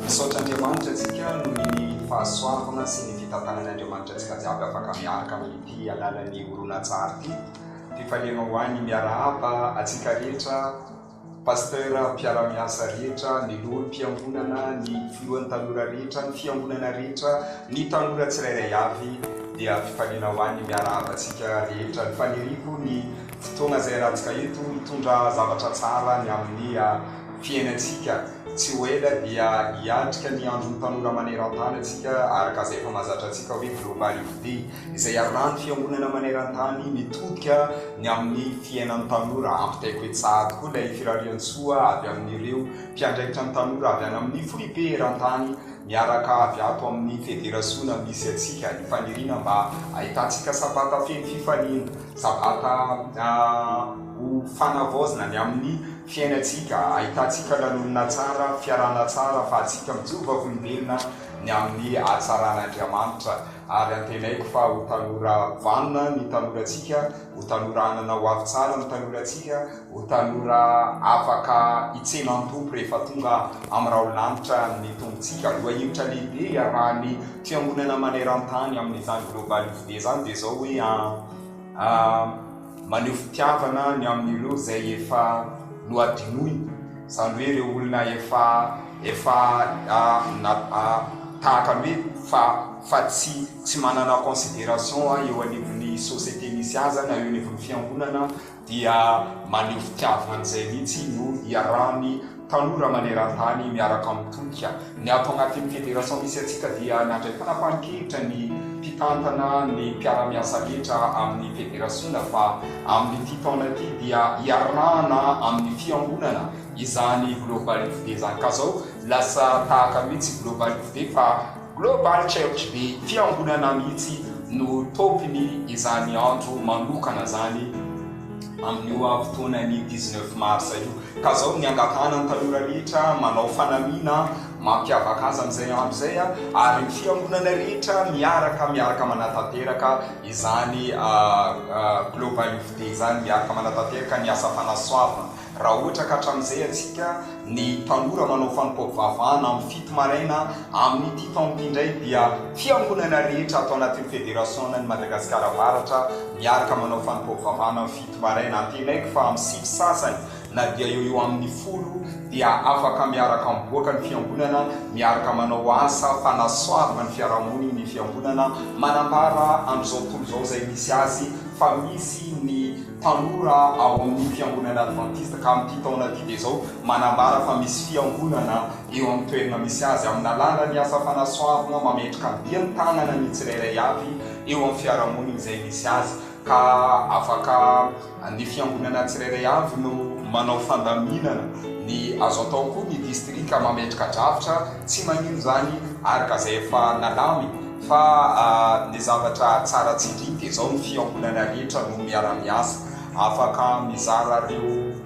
Misaotra Andriamanitra antsika noho ny fahasoavana sy ny fitantanany Andriamanitra antsika jiaby afaka miaraka amin'ity alalan'ny horonantsary ity. Fifaliana ho an'ny miarahaba antsika rehetra. Pasteur mpiara-miasa rehetra, ny loholon'ny fiangonana, ny filohan'ny tanora rehetra, ny fiangonana rehetra, ny tanora tsirairay avy dia fifaliana ho any miarahaba antsika rehetra. Ny faniriako ny fotoana izay hanatsika eto hitondra zavatra tsara ny amin'ny ah, fiainantsika. Tsy ho ela dia hiatrika ny andron'ny tanora maneran-tany antsika araka izay efa mahazatra antsika hoe Global Youth Day. izay iarahan'ny fiangonana maneran-tany mitodika ny amin'ny fiainan'ny tanora. Ampitaiko etsy sahady koa ilay firarian-tsoa avy amin'ireo mpiandraikitra ny tanora avy any amin'ny foibe eran-tany miaraka avy ato amin'ny federasiona misy antsika. Ny faniriana mba hahitantsika sabata feno fifaliana, sabata ho fanavaozina ny amin'ny fiainantsika, hahitantsika lanonana tsara, fiarahana tsara, ahafahantsika mijoro vavolombelona ny amin'ny hatsaran'Andriamanitra. ary antenaiko fa ho tanora vanona ny tanorantsika, ho tanora hanana ho avy tsara ny tanorantsika, ho tanora afaka hitsena an'i Tompo rehefa tonga amin'ny raholanitra ny Tompontsika. Lohahevitra lehibe hiarahan'ny Fiangonana maneran-tany amin'izany Global Youth Day izany dia izao hoe. A, Maneho fitiavana ny amin'ireo izay efa nohadinoina, izany hoe ireo olona efa, efa, a, na, a, tahaka ny hoe fa, fa tsy, tsy manana consideration eo anivon'ny société misy azy na eo anivon'ny fiangonana dia maneho fitiavana an'izay mihitsy no iarahany Tanora maneran-tany miaraka amin'ny tolika. Ny ato anatin'ny federation misy antsika dia nandray fanapahan-kevitra ny mpitantana ny mpiara-miasa rehetra amin'ny federasiona fa amin'ity taona ity dia hiarahana amin'ny fiangonana izany Global Youth Day izany. Ka izao lasa tahaka mihitsy Global Youth Day fa Global Church be fiangonana mihitsy no tôpiny izany andro manokana izany amin'io fotoanan'ny dix neuf mars io ka zao ny angatahana ny tanora rehetra manao fanamiana mampiavaka azy amin'izay andro izay ary ny fiangonana rehetra miaraka miaraka manatanteraka izany global youth day izany miaraka manatanteraka ny asa fanasoavana Raha ohatra ka hatramin'izay antsika, ny tanora manao fanompoam-pivavahana amin'ny fito maraina, amin'ity taona ity indray dia fiangonana rehetra ato anatin'ny Federasionan'i Madagasikara Avaratra miaraka manao fanompoam-pivavahana amin'ny fito maraina. Antenaiko fa amin'ny sivy sasany na dia eo eo amin'ny folo dia afaka miaraka miboaka ny fiangonana miaraka manao asa fanasoavana ny fiarahamoniny ny fiangonana. Manambara amin'izao tontolo izao izay misy azy fa misy ny tanora ao amin'ny fiangonana advantista ka amin'ity taona ity dia izao manambara fa misy fiangonana eo amin'ny toerana misy azy amin'nalalan'ny asa fanasoavana mametraka andian ny tanana ny tsirairay avy eo amin'ny fiarahamoniny izay misy azy ka afaka ny fiangonana tsirairay avy no manao fandaminana ny azo atao koa ny distrika mametraka drafitra tsy maninona izany ary ka izay efa nalamy Fa ny zavatra tsara tsindriny dia izao, ny fiangonana rehetra no miara-miasa. Afaka mizara ireo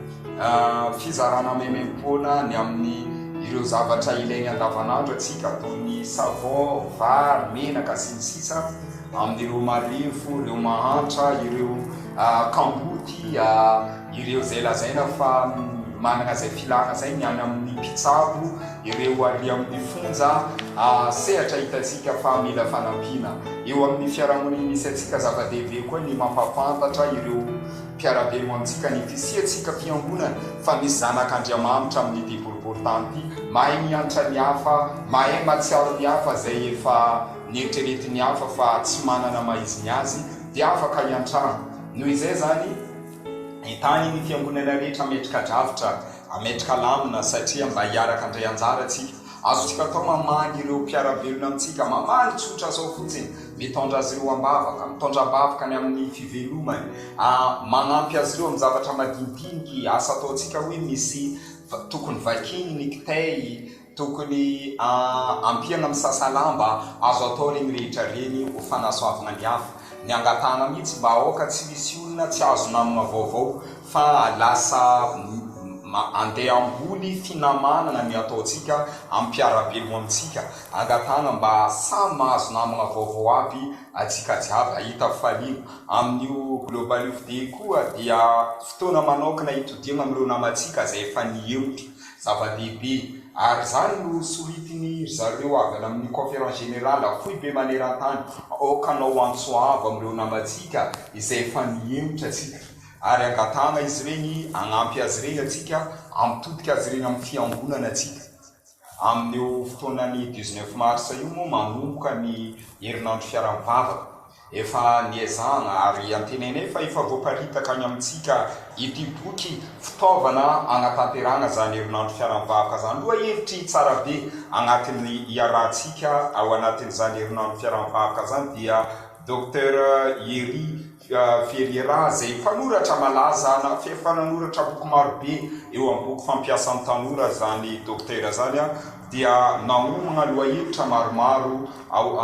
fizarana maimaim-poana ny amin'ny ireo zavatra ilainy andavanandro antsika toy ny savon, vary, menaka sy ny sisa Amin'ireo marefo, ireo mahantra, ireo kamboty, Ireo izay lazaina fa manana izay filana izay ny any amin'ny mpitsabo, ireo ary amin'ny fonja, sehatra hitantsika fa mila fanampiana. Eo amin'ny fiarahamoniny misy antsika, zava-dehibe koa ny mampahafantatra ireo mpiara-belona amintsika ny fisiantsika fiangonana, fa misy zanak'Andriamanitra amin'ity boriborintany ity, mahay miantra ny hafa, mahay mahatsiaro ny hafa izay efa neritreretin'ny hafa fa tsy manana maha izy ny azy, dia afaka hiantrana. Noho izay izany, Entanin'ny fiangonana rehetra hametraka drafitra, hametraka lamina satria mba hiaraka handray anjara isika. Azontsika atao mamangy ireo mpiara-belona amintsika, mamangy tsotra sao fotsiny, mitondra azy ireo am-bavaka, mitondra am-bavaka ny amin'ny fivelomany, manampy azy ireo amin'ny zavatra madinidiniky asa ataontsika hoe misy tokony vakiany ny kitay, Tokony a ampiana misasa lahy mba azo atao reny rehetra reny ho fanasoavana ny hafa. Ny angatahana mihitsy mba aoka tsy hisy olona tsy azo namana vaovao fa lasa m andeha hamboly finamanana ny ataontsika am piarabelogna amintsika. Angatahana mba samy mahazo namagna vaovao aby atsika jiaby ahita faliana. Amin'io global io fde koa dia fotoana manaokana hitodiagna am reo namantsika zay efa nihemotra. Zava-dehibe, ary izany no soritiny ry zareo avy any amin'ny Conférence Générale foibe maneran-tany, aoka hanao antso avo amin'ireo namantsika izay efa nihemotra isika, ary angatahana izy ireny hanampy azy ireny antsika, hampitodika azy ireny amin'ny fiangonana antsika. Amin'io fotoanan'ny dix-neuf mars io moa manomboka ny herinandro fiaraha-mivavaka. Efa niezahana ary antenainay fa efa voaparitaka any amintsika ity boky fitaovana hanatanterahana izany herinandro fiaran'ny vahoka izany. Lohahevitry Tsara be anatin'ny iarahantsika ao anatin'izany herinandro fiaran'ny vahoka izany dia Docteur Hery Ferriera izay mpanoratra malaza na efa nanoratra boky maro be eo amin'ny boky fampiasan'ny tanora izany Docteur izany dia nahomana lohahevitra maromaro ao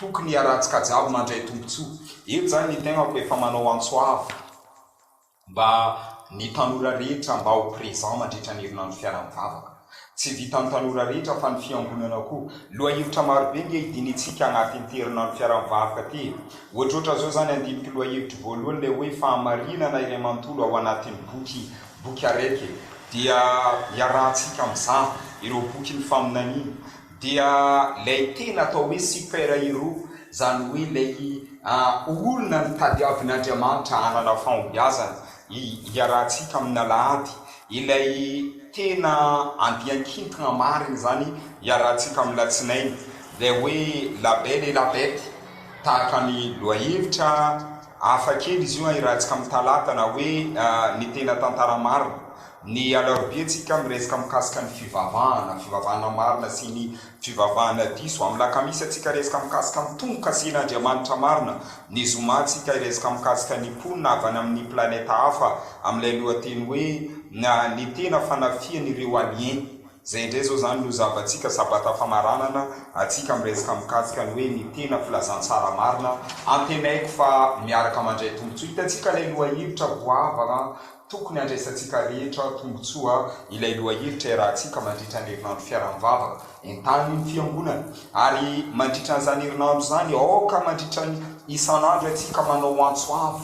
Tokony hiarahantsika jiaby mandray tombotsoa. Eto izany ny tegnako efa manao antso avo mba ny tanora rehetra mba ho présent mandritra ny herinandro fiara-mivavaka. Tsy vitan'ny tanora rehetra fa ny fiangonana koa. Lohahevitra marobe nge hidinitsika agnatin'ity herinandro fiara-mivavaka ty e. Ohatrohatran' zao zany andiniko lohahevitro voalohany le hoe fahamarinana iray manontolo ao anatin'ny boky boky araiky e. Dia iarahantsika mizaha ireo bokin'ny faminaniana. Dia lay tena atao hoe super hero zany hoe ilay olona notadiavin'Andriamanitra hanana fahombiazana hiarahantsika amin'ny alahady, ilay tena andian-kintona marina izany hiarahantsika amin'ny latsinainy, ilay hoe la belle et la bête tahaka ny lohahevitra. Hafa kely izy io an, hirantsika amin'ny talata na hoe ny tena tantara marina. Ny alarobia tsika miresaka mikasika ny fivavahana, fivavahana marina sy ny fivavahana diso. Amin'ny lakamisy tsika resaka mikasika ny tombo-kasen'Andriamanitra marina. Ny zoma tsika hiresaka mikasika ny mponina avy any amin'ny planeta hafa amin'ilay lohateny hoe ny tena fanafihan'ireo alien. Zay indray zao zany no zavatsika sabata famaranana atsika miresaka mikasika ny hoe ny tena filazantsara marina antenaiko fa miaraka mandray tombotsoa hitantsika ilay lohahevitra goavana tokony handraisantsika rehetra tombotsoa ilay lohahevitra iarahantsika mandritra ny herinandro fiaraha-mivavaka entanin'ny fiangonana ary mandritra an'izany herinandro izany aoka mandritra ny isan'andro atsika manao antso avo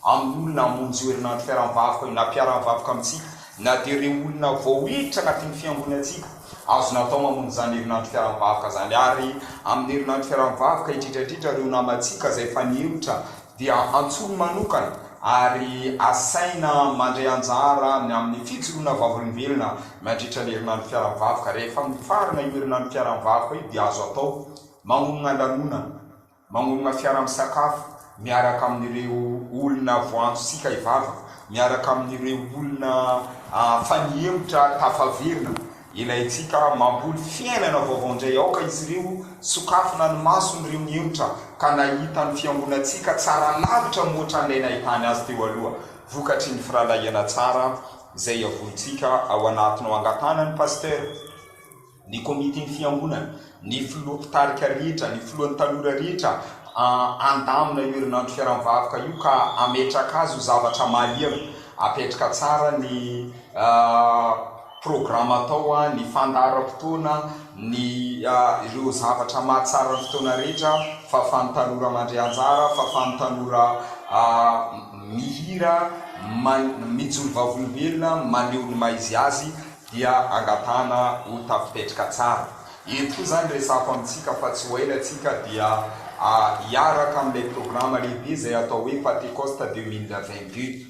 amin'ny olona hamonjy io herinandro fiaraha-mivavaka io, na mpiara-mivavaka amintsika, na dia ireo olona vao hiditra anatin'ny fiangonantsika. Azo natao mamonjy izany herinandro fiaraha-mivavaka izany, ary amin'ny herinandro fiaraha-mivavaka, indrindra indrindra ireo namantsika izay efa nihemotra dia antsoiny manokana ary asaina mandray anjara amin'ny fijoroana vavolombelona mandritra ny herinandro fiaraha-mivavaka. Rehefa mifarana io herinandro fiaraha-mivavaka io dia azo atao mamonona lanonana. Manorina fiara-misakafo miaraka amin'ireo olona voaantontsika hivava, miaraka amin'ireo olona fa nihemotra tafaverina. Ilaintsika mamboly fiainana vaovao indray. Aoka izy ireo sokafina ny mason'ireo nihemotra, ka nahita ny fiangonantsika tsara lavitra mihoatra an'ilay nahitany azy teo aloha, vokatry ny firahalahiana tsara izay iavorintsika ao anatinao. Angatahana ny Pasitera. ny komitin'ny fiangonana, ny filoha mpitarika rehetra, ny filohan'ny tanora rehetra handamina io herinandro fiaram-vahoka io ka hametraka azy ho zavatra mahaliana, hapetraka tsara ny programa atao, ny fandaharam-potoana, ny ireo zavatra mahatsara ny fotoana rehetra, fahafahan'ny tanora mandray anjara, fahafahan'ny tanora mihira, mijoro vavolombelona, maneho ny maha izy azy. dia angatahana ho tafipetraka tsara. Eto koa izany resahako amintsika fa tsy ho ela isika dia hiaraka amin'ilay programa lehibe izay atao hoe Patecoste deux mille vingt deux.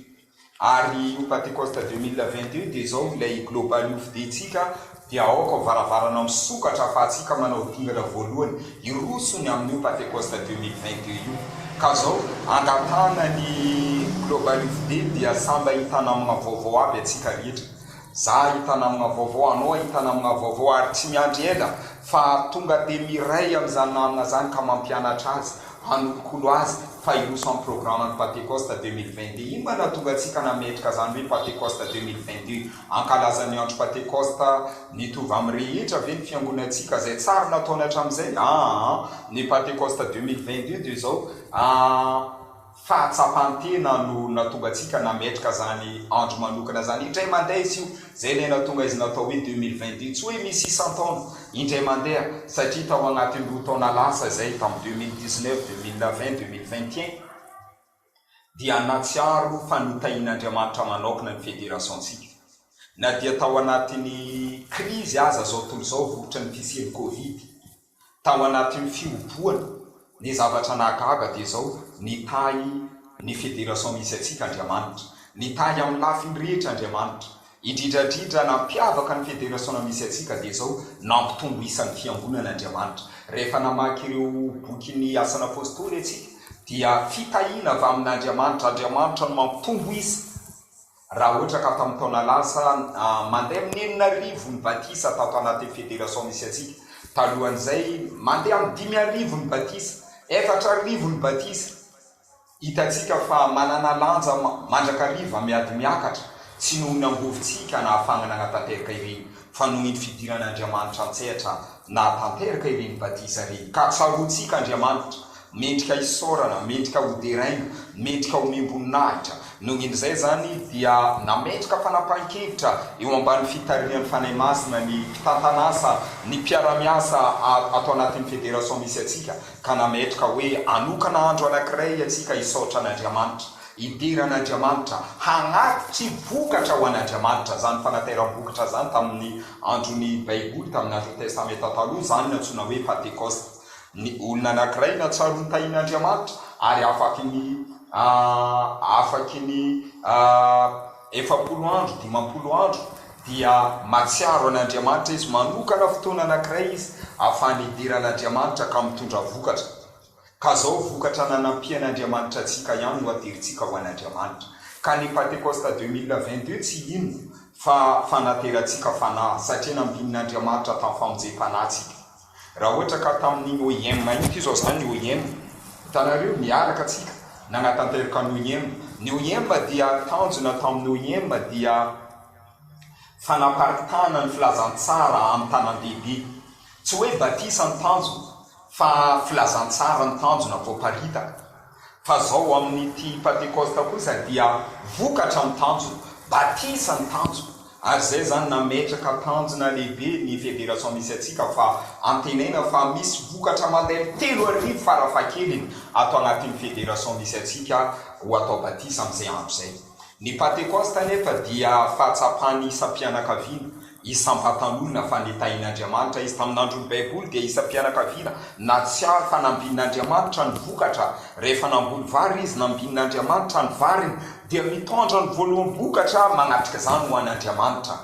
Ary io Patecoste deux mille vingt deux dia izao ilay Global Youth Day ntsika dia aoka ho varavarana misokatra ahafahantsika manao dingana voalohany hiroso ny amin'io Patecoste deux mille vingt deux io. Ka izao angatahana ny Global Youth Day dia samy mba hitana amina vaovao aby antsika rehetra. Zah hahita namagna vaovao, anao hahita namagna vaovao ary tsy miandry ela fa tonga dia miray amin'izany namagna izany ka mampianatra azy, hanolokolo azy fa hiroso amin'ny programan'ny Pantekosta deux mille vingt deux. Inona no nahatonga antsika nametraka izany hoe Pantekosta deux mille vingt deux? Hankalaza ny andro Pantekosta mitovy amin'ny rehetra ve ny fiangonantsika? Izay tsara nataony hatramin'izay? Aa ny Pantekosta deux mille vingt deux dia izao, aa. fahatsapan-tena no nahatonga antsika nametraka izany andro manokana izany indray mandeha izy io, izay ilay nahatonga izy natao hoe deux mille vingt deux, tsy hoe misy isan-taona, indray mandeha, satria tao anatin'ny roa taona lasa izay, tamin'ny deux mille dix neuf, deux mille vingt, deux mille vingt et un, dia nahatsiaro fa notahian'Andriamanitra manaokna ny federasiontsika, na dia tao anatin'ny krizy aza izao tontolo izao vokotry ny fisian'ny covid. Tao anatin'ny fihobohana ny zavatra nahagaga dia izao, Nitahy ny Federation misy antsika Andriamanitra. Nitahy amin'ny lafiny rehetra Andriamanitra. Indrindra indrindra nampiavaka ny Federation misy antsika dia izao, Nampitombo isa ny Fiangonana Andriamanitra. Rehefa namaky ireo bokin'ny Asan'ny Apostoly antsika dia fitahiana avy amin'Andriamanitra, Andriamanitra no mampitombo isa. Raha ohatra ka tamin'ny taona lasa, mandeha amin'ny enina arivo ny batisa tato anatin'ny federation misy antsika. Talohan'izay, mandeha amin'ny dimy arivo ny batisa, efatra arivo ny batisa. Hitantsika fa manana lanja mandrakariva miady miakatra, tsy noho ny angovintsika nahafahana nanatanteraka ireny, fa noho iny fidiran'Andriamanitra an-tsehatra nahatanteraka ireny batisa ireny, ka tsaroantsika Andriamanitra, Mendrika hisaorana, mendrika hoderaina, mendrika homem-boninahitra. Noho in'izay izany dia nametraka fanapahan-kevitra eo ambany fitarihan'ny Fanahy Masina ny mpitantan'asa, ny mpiara-miasa ato anatin'ny federation misy antsika ka nametraka hoe hanokana andro anankiray antsika hisaotra an'Andriamanitra, hidera an'Andriamanitra, hagnatitry vokatra ho an'Andriamanitra. Izany fanateram-bokatra izany tamin'ny andron'ny Baiboly, tamin'ny andron'ny Testamenta Taloha, izany no antsoina hoe Pantekosta. Ny olona anankiray natsaron-tahin'Andriamanitra ary afaky ny afaky ny efapolo andro, dimampolo andro dia mahatsiaro an'Andriamanitra izy, manokana fotoana anankiray izy afahany hidiran'Andriamanitra ka mitondra vokatra. Ka zao vokatra nanampian'Andriamanitra antsika ihany no aderintsika ho an'Andriamanitra. Ka ny Pentecoste 2022 tsy inona fa fanaterantsika fanahy satria nambinin'Andriamanitra tamin'ny famonjem-panahy antsika. Raha ohatra ka tamin'iny OIM iny, toy izao izany ny OIM, hitanareo, niaraka tsika, nagnatanterka ny OIM. Ny OIM dia tanjona tamin'ny OIM dia fanaparitahana ny filazantsara amin'ny tanàn-dehibe. Tsy hoe batisa ny tanjona fa filazantsara ny tanjona voaparitaka. Fa zao amin'ity Pantekosta kosa dia vokatra ny tanjona, batisa ny tanjona, ary zay zany nametraka tanjona lehibe ny Federation misy antsika fa antenaina fa misy vokatra mandairy telo arivo fara fahakeliny ato anatin'ny Federation misy antsika ho atao batisa amin'izay andro izay. Ny Pantekosta anefa dia fahatsapan'ny isam-pianakaviana Isam-patan'olona fa nitahian'Andriamanitra izy. Tamin'ny andron'ny Baiboly, dia isam-pianakaviana nahatsiaro fanambin'Andriamanitra ny vokatra. Rehefa namboly vary izy, nambin'Andriamanitra ny variny, dia mitondra ny voaloham-bokatra manatrika izany ho an'Andriamanitra.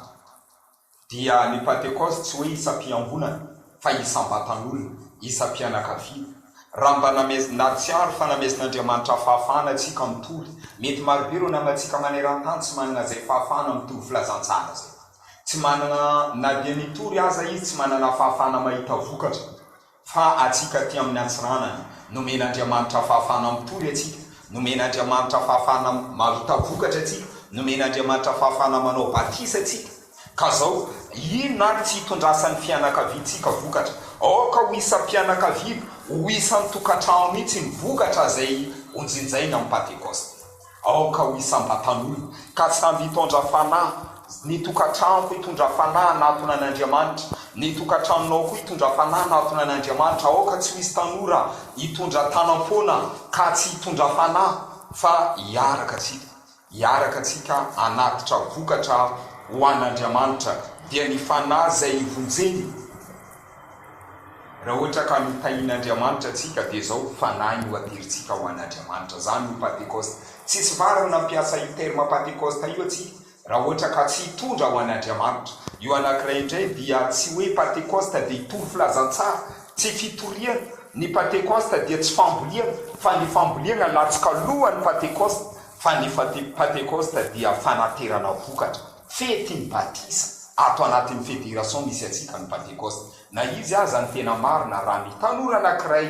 Dia ny Pantekosta tsy hoe isam-piangonana. fa isam-batan'olona, isam-pianakaviana. Raha mba namezin-, ary tsy aro fa namezin'Andriamanitra fahafahana antsika mitory, mety marobe ireo namantsika maneran-tany tsy manana izay fahafahana mitovy filazantsara izay. Tsy manana, na dia mitory aza izy, tsy manana fahafahana mahita vokatra. Fa antsika aty amin'ny Antsiranana, nomen'Andriamanitra fahafahana mitory antsika, nomen'Andriamanitra fahafahana mahita vokatra antsika, nomen'Andriamanitra fahafahana manao batisa antsika, Ka zao, inona ary tsy hitondrasan'ny fianakaviantsika vokatra? Aoka ho isam-pianakaviana, ho isan-tokantrano mihitsy ny vokatra izay hojinjainy amin'ny Pantekosta. Aoka ho isam-batan'olona, ka samby hitondra fanahy. Ny tokantranoko hitondra fanahy hanatona an'Andriamanitra. Ny tokantranonao koa hitondra fanahy hanatona an'Andriamanitra. Aoka tsy ho hisy tanora hitondra tanam-poana ka tsy hitondra fanahy, fa hiaraka isika. Hiaraka antsika hanatitra vokatra ho an'Andriamanitra dia ny fanahy izay hivonjeny. Raha ohatra ka notahian'Andriamanitra antsika dia izao fanahy no aterintsika ho an'Adriamanitra. Izany no Pantekosta. Tsisy vary no nampiasa io terme Pantekosta io antsika raha ohatra ka tsy hitondra ho an'Andriamanitra. Io anankiray indray dia tsy hoe Pantekosta dia hitory filazantsara, tsy fitoriana. Ny Pantekosta dia tsy fambolena fa ny fambolena latsoka alohan'ny Pantekosta. fa ny Fety Pantekosta dia fanaterana vokatra, fetin'ny batisa, ato anatin'ny federation misy antsika ny Pantekosta. Na izy aza ny tena marina raha ny tanora anankiray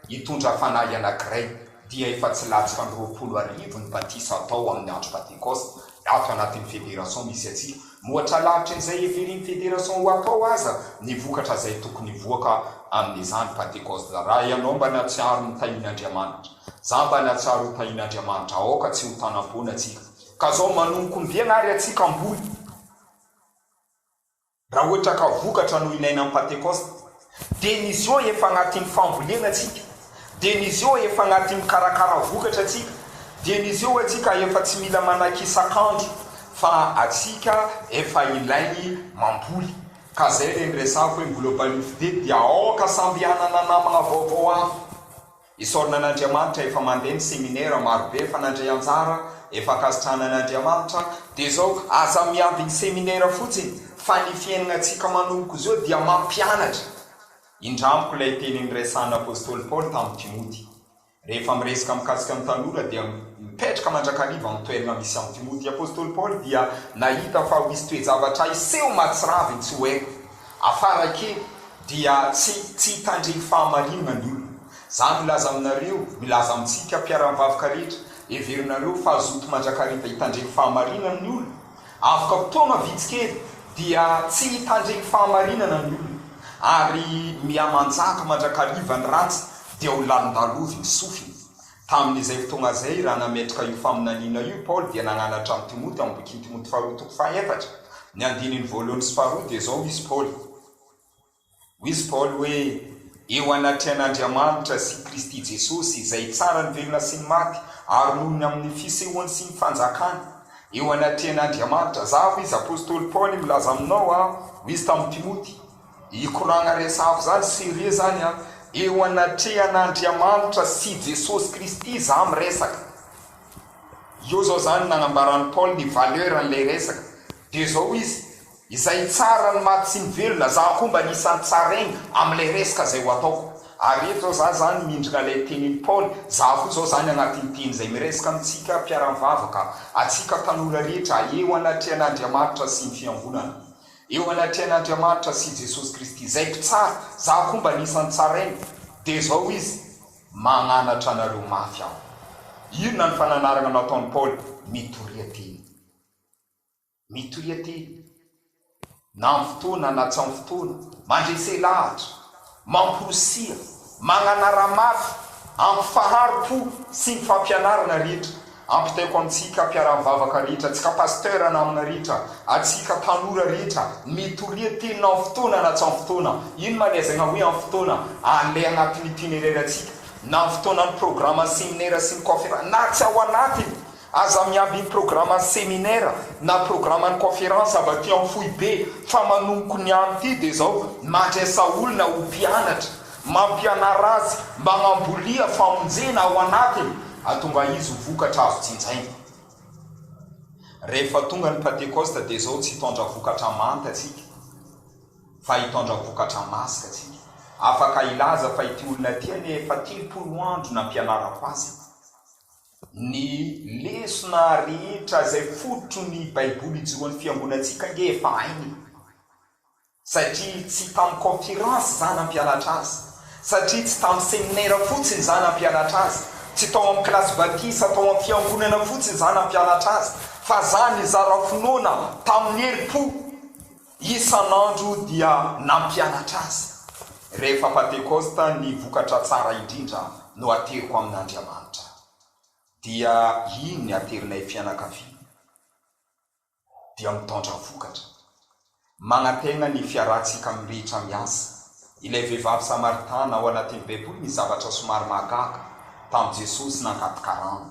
hitondra fanahy anankiray dia efa tsy latsaka ny roapolo arivo ny batisa atao amin'ny andro Pantekosta ato anatin'ny federation misy antsika. Mohatra lavitra izay heverin'ny federation ho atao aza ny vokatra izay tokony hivoaka amin'izany Pantekosta raha ianao mba natsiaro ny tahin'Andriamanitra. Za mba nahatsiaro ho tahin Andriamanitra aoka tsy ho tanam-boina tsika ka zao manomboka ombiagna ary atsika amboly raha ohatra ka vokatra no ilaina am patekosta de ny zo efa agnatim fambolena tsika de ny zo efa agnatim mikarakara vokatra tsika de ny zo atsika efa tsy mila manaky isak andro fa atsika efa ilaigny mamboly ka zay le niresako hoe mbola balifide dia aoka samby hanana namagna vaovao hafa. Isaorana an'Andriamanitra efa mandeha ny seminera marobe efa nandray anjara, efa ankasitrahana an'Andriamanitra, dia izao aza miady ny seminera fotsiny fa ny fiainanantsika manomboka izao dia mampianatra. Indramiko ilay teny niresahan'ny Apostoly Paoly tamin'i Timoty. Rehefa miresaka mikasika ny tanora dia mipetraka mandrakariva amin'ny toerana misy an'i Timoty. I Apostoly Paoly dia nahita fa ho hisy toe-javatra hiseho mahatsiravy ny tsy ho ela. Afara kely dia tsy tsy hitandregny fahamarinana ny olona. Za milaza aminareo, milaza amintsika mpiara-mivavaka rehetra, heverinareo fa zoto mandrakariva hitandregny fahamarinana ny olona? Avoka fotoagna vitsy kely dia tsy hitandregny fahamarinana ny olona, ary mihamanjaka mandrakariva ny ratsy dia ho lalondalovy ny sofiny. Tamin'izay fotoana izay, raha nametraka io faminaniana io i Paoly, dia nananatra amin'i Timoty, ao amin'ny bokin'i Timoty faharoa toko fahaefatra, ny andininy voalohany sy faharoa, dia izao hoy izy Paoly, Hoy izy Paoly hoe, Eo anatrehan'Andriamanitra sy Kristy Jesosy, izay tsara ny velona sy ny maty, ary noho ny amin'ny fisehoany sy ny fanjakany, eo anatrehan'Andriamanitra, za, hoy izy, apostoly Paoly, milaza aminao, aho, hoy izy tamin'i Timoty, Hikoragna resafo zany sérieux zany an! Eo anatrehan'Andriamanitra sy Jesosy Kristy za miresaka. Eo zao zany nagnambaran'i Paoly ny valeur an'ilay resaka. Dia zao izy, izay tsara ny maty sy ny velona, za koa mba anisan'ny tsara aigny amin'ilay resaka izay ho ataoko. Ary eto zao za zany mindrana ilay tenin'i Paoly, za koa zao zany agnatin'ny teny izay miresaka amintsika mpiara-mivavaka, atsika tanora rehetra eo anatrehan'Andriamanitra sy ny fiangonana. Eo anatrehan' Andriamanitra sy Jesosy Kristy Izay mpitsara, za koa mba anisan'ny tsarainy, dia izao hoy izy, Magnanatra anareo mafy aho. Inona ny fananarana nataon'i Paoly? Mitoria teny. Mitoria teny. Na amin'ny fotoana na tsy amin'ny fotoana. Mandresy lahatra. Mamporisiha, magnanara mafy, ampifaharo po sy ny fampianarana rehetra, ampitaiko amintsika mpiara-mivavaka rehetra, antsika pasteur namana rehetra, antsika tanora rehetra, mitoria teny na amin'ny fotoana na tsy amin'ny fotoana, ino ma le azaigna hoe amin'ny fotoana, alay agnatin'ny itinéraire antsika, na amin'ny fotoanan'ny programan'ny seminaire sy ny conférence, na tsy ao anatiny, Aza miamby ny programan'ny seminera na programan'ny kaonferansa avy aty amin'ny foibe fa manomboka ny andro ity dia izao mandresa olona ho mpianatra, mampianara azy, magnambolia famonjena ao anatiny atonga izy ho vokatra azo jinjaina. Rehefa tonga ny Pantekosta dia izao tsy hitondra vokatra manta tsika fa hitondra vokatra masika tsika. Afaka hilaza fa ity olona ity anie efa telopolo andro nampianarako azy. Ny lesona rehetra izay fototry ny baiboly ijoroan'ny fiangonantsika ange efa hainy e! Satria tsy tamin'ny conférence za nampianatra azy, satria tsy tamin'ny seminaire fotsiny za nampianatra azy, tsy tao amin'ny kilasy batisa tao amin'ny fiangonana fotsiny za nampianatra azy, fa za nizara finoana tamin'ny herim-po. Isan'andro dia nampianatra azy, rehefa Pantekosta ny vokatra tsara indrindra no ateriko amin'Andriamanitra. Dia iny ny aterinay fianakaviana dia mitondra vokatra. Manantena ny fiarahantsika amin'ny rehetra miasa. Ilay vehivavy Samaritana ao anatin'ny Baiboly ny zavatra somary mahagaga tamin'i Jesosy nangady karama.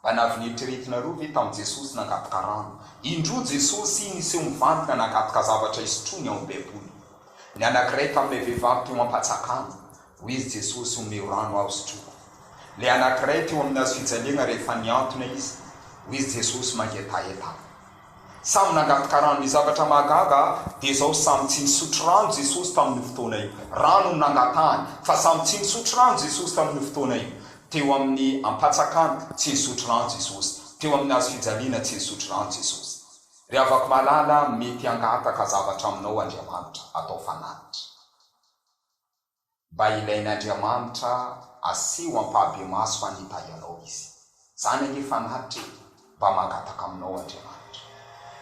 Mba navin'eritreretina roa ve tamin'i Jesosy nangataka rano? Indroa Jesosy niseho mivantana nangataka zavatra hisotroany ao amin'ny Baiboly. Ny anankiray tamin'ilay vehivavy teo am-patsakany. Hoy izy Jesosy, Omeo rano aho hosotroiko. Ilay anankiray teo amin'ny hazofijaliana rehefa nihantona izy. Hoy izy Jesosy mangetaheta ahy. Samy nangataka rano Ny zavatra mahagaga dia izao, samy tsy nisotro rano Jesosy tamin'io fotoana io. Rano no nangatahany, fa samy tsy nisotro rano Jesosy tamin'io fotoana io. Teo amin'ny ampatsakana, tsy nisotro rano Jesosy. Teo amin'ny hazo fijaliana, tsy nisotro rano Jesosy. Ry havako malala, mety hangataka zavatra aminao Andriamanitra. Atao fanatitra. mba ilain'Andriamanitra asio ampahabemaso any Italy anao izy. Zany ange fanatitra e! Mba mangataka aminao Andriamanitra.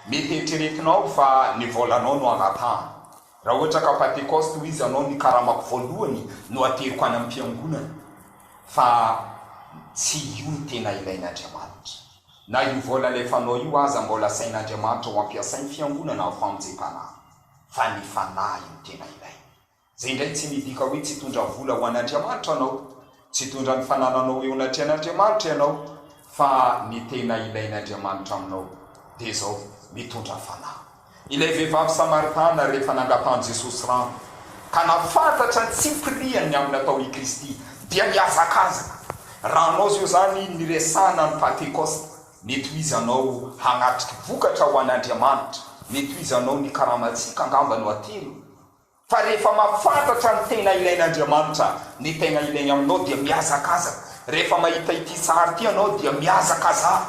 Mety eritreretinao fa ny volanao no angatahana. Raha ohatra ka Pantekosta hoy izy anao ny karamako voalohany no ateriko any ampiangonana. Fa tsy io no tena ilain'Andriamanitra. Na io vola alefanao io aza mbola asain'Andriamanitra ho ampiasainy fiangonana ao famonjempanahy. Fa ny fanahy no tena ilainy. Zay indray tsy midika hoe tsy hitondra vola ho an'Andriamanitra anao. Tsy hitondra ny fanananao eo anatrehan'Andriamanitra ianao fa ny tena ilain'Andriamanitra aminao dia izao, mitondra fanahy. Ilay vehivavy Samaritana rehefa nangatahan'i Jesosy rano ka nahafantatra ny tsipiriany amin'ny natao i Kristy dia nihazakazaka. Raha anao zao izany niresahana ny Pantekosta, mety izy anao hanatrika vokatra ho an'Andriamanitra, mety izy anao ny karamantsika angamba no haterina. Fa rehefa mahafantatra ny tena ilain'Andriamanitra, ny tena ilainy aminao dia mihazakazaka. Rehefa mahita ity sary ity ianao dia mihazakazaha.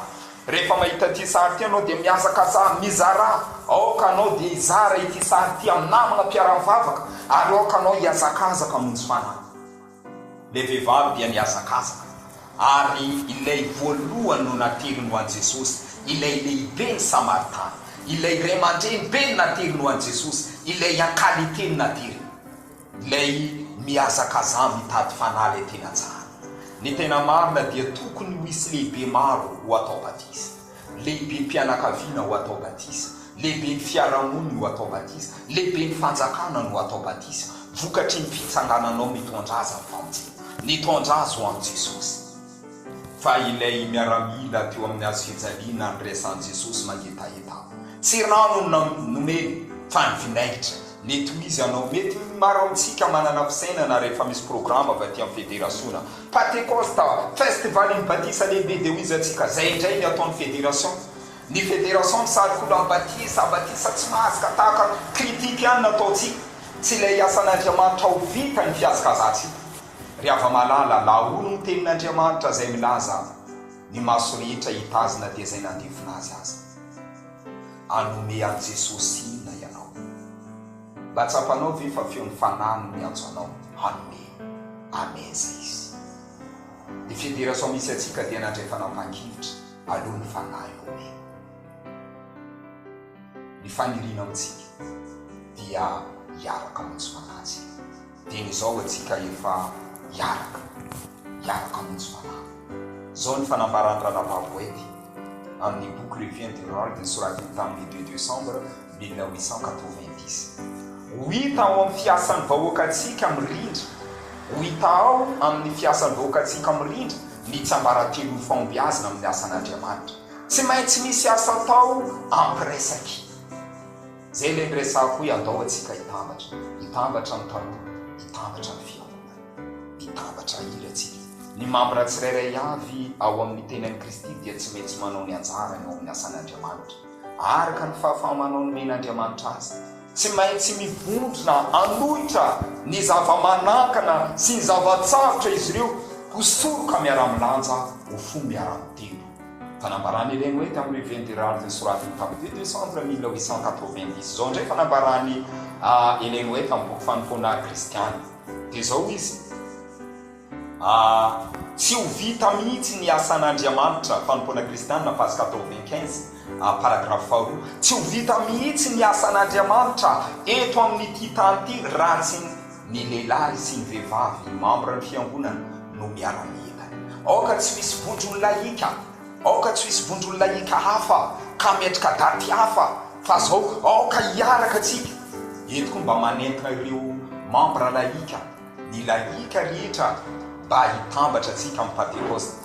Rehefa mahita ity sary ity ianao dia mihazakazaha mizarà. Aoka anao dia hizara ity sary ity amin'ny namana mpiara-mivavaka ary aoka anao hihazakazaka hamonjy fanahy. Ilay vehivavy dia nihazakazaka, ary ilay voalohany no nateriny ho an'i Jesosy, ilay lehiben'ny Samaritana. Ilay ray aman-dreny be no nateriny ho an'i Jesosy, ilay an-kalite no nateriny. Ilay mihazakazaha mitady fanahy ilay tena tsara. Ny tena marina dia tokony ho hisy lehibe maro ho atao batisa. Lehibem-pianakaviana ho atao batisa, lehiben'ny fiarahamonina ho atao batisa, lehiben'ny fanjakana no atao batisa, vokatry ny fitsangananao mitondra azy am-panja. Nitondra azy ho amin'i Jesosy. Fa ilay miaramila teo amin'ny hazo fijaliana niresahan'i Jesosy mangetaheta aho, tsy rano no nomeny, fa ny vinaigitra. Ny tohizanao, mety ny maro amintsika manana fisainana rehefa misy programa avy aty amin'ny federasiona, Patekosta, Festival ny batisa lehibe dia hohizantsika zay indray ny ataon'ny federation. Ny federation misarikolo amin'ny batisa, batisa tsy mahaska tahaka ny critique ihany no ataontsika, tsy ilay asan'Andriamanitra ho vita ny fihazkazantsika. Ry hava-malala, lahono ny tenin'Andriamanitra izay milaza, ny maso rehetra hitazona dia izay nandefona azy aza. Hanome an'i Jesosy inona ianao? Mba tsapanao ve fa feon'ny Fanahy no miantso anao hanome? Amen izay izy. Ny fidirany sao misy antsika dia nandray fanampahan-kevitra aloha ny Fanahy no omeny ny faniriana amintsika dia hiaraka maitso mananjy. Dieny izao antsika efa hiaraka, hiaraka hamonjy fanamby. Izao ny fanambaran'i Ranababoety amin'ny boky Le Vient du Rôle nosoratiny tamin'ny deux décembre mille huit cent quatre-vingt-dix. Ho hita ao amin'ny fiasan'ny vahoakantsika mirindra, ho hita ao amin'ny fiasan'ny vahoakantsika mirindra ny tsiambaratelon'ny fahombiazana amin'ny asan'Andriamanitra. Tsy maintsy misy asa atao ampiresaky. Zay le niresahako hoe andao atsika hitambatra, hitambatra ny tanora, hitambatra ny fiangonana. Mitambatra iry atsika. Ny mambra tsirairay avy ao amin'ny tenan'i Kristy dia tsy maintsy manao ny anjarany ao amin'ny asan'Andriamanitra, araka ny fahafaha-manao nomen'Andriamanitra azy. Tsy maintsy mivondrona hanohitra ny zava-manakana sy ny zava-tsarotra izy ireo, ho soroka miara-milanja, ho fo miara-mitendo. Fanambarana ireny hoe tamin'ny revue Inderald nosoratiny tamin'ny deux décembre mille huit cent quatre-vingt-dix izao indray fanambarany ireny hoe tamin'ny boky fanompoana kristiana dia izao hoy izy Tsy ho vita mihitsy ny asan'Andriamanitra, Fanompoana Kristiana, page quatre-vingt-quinze, paragraphe faharoa, Tsy ho vita mihitsy ny asan'Andriamanitra eto amin'ity tany ity raha tsy Ny lehilahy sy ny vehivavy membre ny fiangonana no miara-miela. Aoka tsy ho hisy vondron'la hika, aoka tsy ho hisy vondron'la hika hafa ka metrika daty hafa fa zao aoka hiaraka tsika. Eto koa mba manentana ireo membre la hika, ny la hika rehetra mba hitambatra tsika amin'ny Pantekosta.